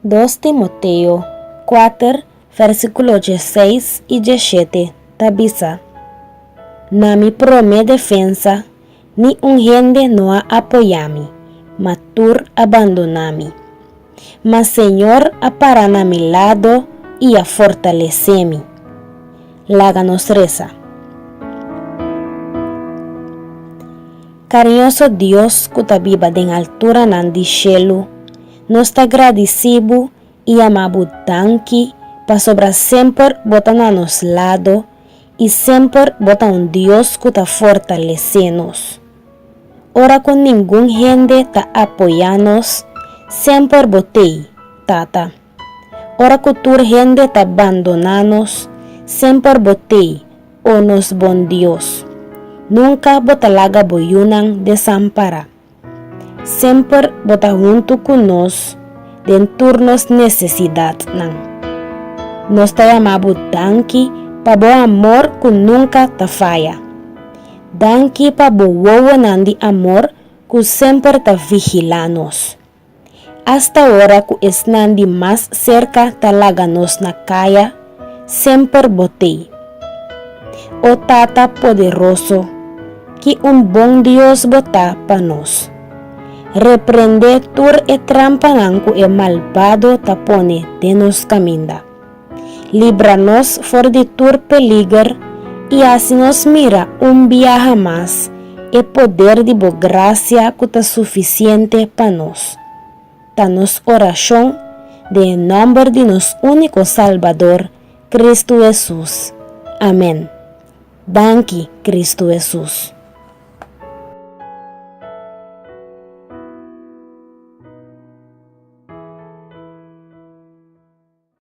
Dos Timoteo kuater vèrsikulo dieseis i diesshete ta bisa, Na mi promé defensa Ni un hende no a apoyá mi, ma tur a bandoná mi. Ma Señor a pará na mi lado i a fortalesé mi. Laga nos resa. Kariñoso Dios ku ta biba den alturanan di shelu, nos ta gradisí Bo i amá Bo danki pasobra semper Bo ta na nos lado I semper bo ta un Dios ku ta fortalesé nos. Ora ku ningun hende ta apoyá nos, semper bo t'ei, Tata. Ora ku tur hende ta bandoná nos, semper bo t'ei, O nos Bon Dios. Nunka bo ta laga bo yunan desampará. Semper bo ta huntu ku nos den tur nos nesesidatnan. Nos ta yama bo danki pa bo amor ku nunka ta faya. Danki pa bo wowonan di amor ku semper ta vigilá nos. Asta ora cu esnan di mas cerca ta laga nos na caya, semper botey. O Tata poderoso, ki un bon Dios bo ta pa nos. Reprende tur e trampanan cu e malbado ta pone den nos caminda. libra nos for di tur peliger i hasi nos mira un biaha mas e poder di bo gracia cu ta suficiente pa nos. Ta nos oracion den e nomber di nos unico Salbador, Cristo Jesus. Amen. Danki, Cristo Jesus.